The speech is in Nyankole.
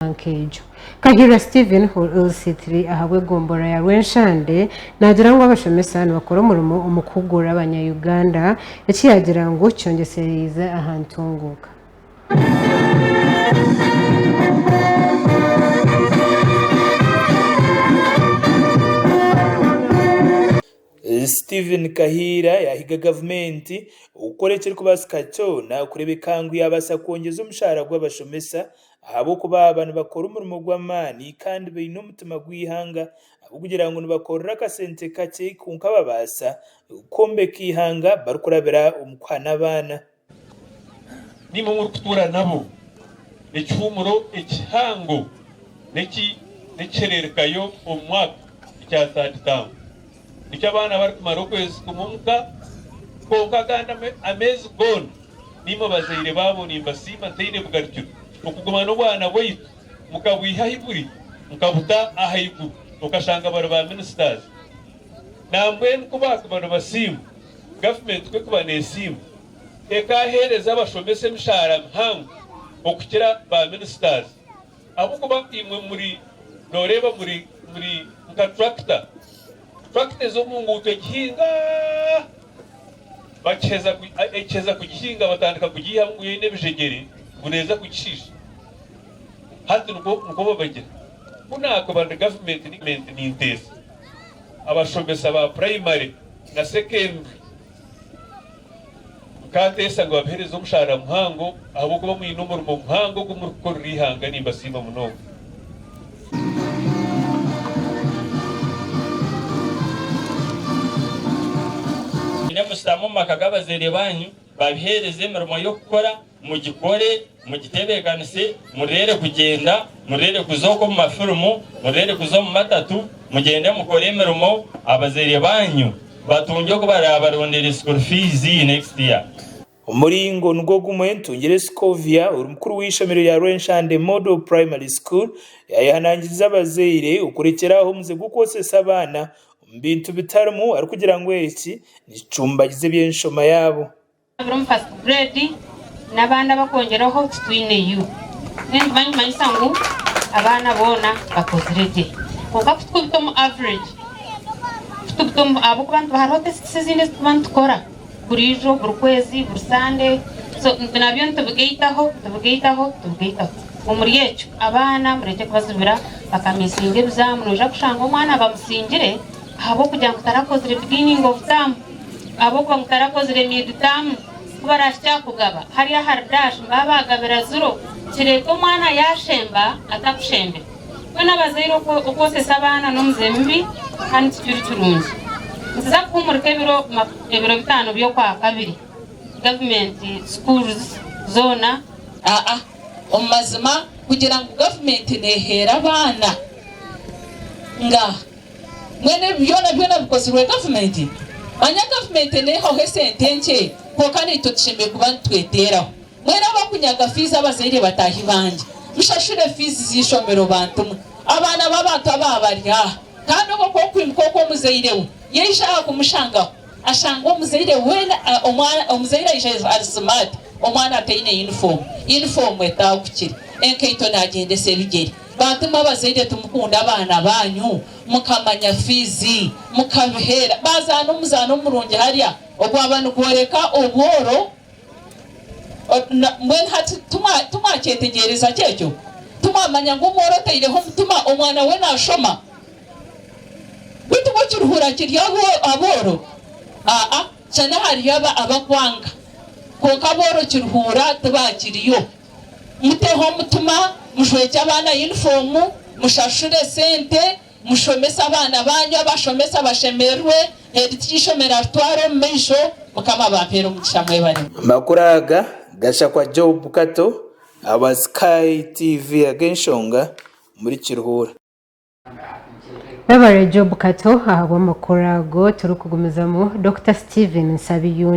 omushaaha nk'egyo. Kahirira Stephen, LC3, ahabw'egombolola ya Rwenshande, naagira ngu abashomesa nibakora omurimo omu kuhugura abanya Uganda, eki yaagira ngu kyongyesereize aha ntunguuka. Stephen Kahiirira yaahiga gavumenti okukora ekirikubaasika kyona kureebeka ngu yaabaasa kwongyeza omushaara gw'abashomesa Ahabw'okuba baaba nibakora omurimo gw'amaani kandi baine omutima gw'eihanga ahabw'okugira ngu nibakorera akasente kakye kwonka babaasa kwombeka eihanga barikurabira omu kuha n'abaana. Niimwe murikutuura nabo ekihuumuro ekihango n'ekihereerekayo omu mwaka ekya Third Town. Nikyo abaana barikumara okwezi kumwe omu ka, kwonka agandi ameezi goona. Naimwe bazaire baabo nimbasiima ntaine bugarikiro, okuguma n'obwana bwaitu mukabwiha ahi buri, mukabuta ahaiguru okashanga bari ba ministers. Nambwenu ku baakuba nibasiimwa, gavumenti ku ekuba neesiimwa, ekaaheereza abashomesa emishaara mihango okukira ba ministers. Ahabw'okuba imwe muri, nooreeba, muri, muri nka turakita. Turakita ez'omu nguuto egihinga, bakiheza ku, ekiheza kugihinga batandika kugiihamu ngu yo eine ebijegyere, ngu neeza kugishiisha. Hati nikwo, nikwo babagira. Ku naakuba ndi gavumenti, ni, ninteesa abashomesa ba puraimare na sekendure. Nkaateesa ngu abaheereze omushaara muhango ahabw'okuba mwine omurimo muhango ogu murikukorera eihanga. Nimbasiima munonga. Mwine mushutame omu maka g'abazaire baanyu, babiheereze emirimo y'okukora. Mugikore, mugitebeekanise, murere kugyenda, murere kuza okwo omu mafirimu, murere kuza omu matatu, mugyende mukore emirimo, abazaire baanyu batungye oku baraabarondere school fees next year. Omuringo nigwo gumwe Ntungire Scovia ori mukuru w'eishomero rya Rwenshande Model Primary School yaayehanangiriza abazaire okurekyera aho omuze gw'okwotsesa abaana omu bintu bitarimu arikugira ngu eki nikicumbagiza eby'enshoma yaabo. Birimu first grade n'abandi abakwongyeraho titwineyo. Then niba nikimanyisa ngu abaana boona bakozire gye. Kwonka ku turikubita omu average, ku tubita omu, ahabw'okuba nituba hariho tests ezindi ezi tuba nitukora burijo, buri kwezi, buri Sande. So nabyo nitubigaitaho, nitubigaitaho, nitubigaitaho. Omuri ekyo abaana murekye kubazibira bakamiisinga ebizaamu. Noija kushanga omwana bamusingire ahabw'okugira ngu tarakozire beginning of term. Ahabw'okuba mutarakozire miiditaamu ku baraahikye aha kugaba, hariya ahari daashi mbaabe baagabira ziro, kireete omwana yaashemba atakushembire. Twena abazaire okwotsesa abaana n'omuze mubi kandi tikiri kirungi. Nituza kuhuumurika ebiro bitaano by'Okwakabiri, Gavumenti Schools zoona. Aa, Omu mazima, kugira ngu Gavumenti neeheera abaana nga. Mbwenu ebi byona byona bikozirwe gavumenti? Manya gavumenti neyihaho esente enkye kwonka naitwe tushemereire kuba nitweteraho. Mwena abakunyaga fiizi abazaire bataahi bangye mushashure fiizi z'eishomero bantu mwe. Abaana b'abantu aba bari aha kandi obwo kwokuimuka oku omuzaire we yaija aha kumushangaho ashange omuzaire weena omuzaire aija ari smart omwana ataine yunifoomu, yunifoomu etaagukire, enkaito nagyendesa ebigyere. Bantu mwe abazaire timukunda abaana baanyu? Mukamanya fiizi, mukabiheera, baazaana omuzaano omurungi harya ogwaba nigworeka obworo? Mbwenu hati timwakyetegyereza gye ekyo? Timwamanya ngu omworo otaireho omutima omwana we naashoma? Beitu bwo kirihuura kiri abooro? Aa-a, shana hariyo abakwanga, kwonka abooro kirihuura tibaakiriyo. Muteho omutima, mujwegye abaana yunifoomu, mushashure sente, mushomese abaana baanyu, abashomesa bashemererwe, heedi tiry'eishomero aritware omu maisho. Mukama abampere omugisha mwebare. Amakuru aga gashakwa Job Kato awa Sky TV ag'enshonga omuri Kiruhura. Webare Job Kato ahabw'amakuru ago. Turikugumizamu, Dokita Steven Nsabiyundi.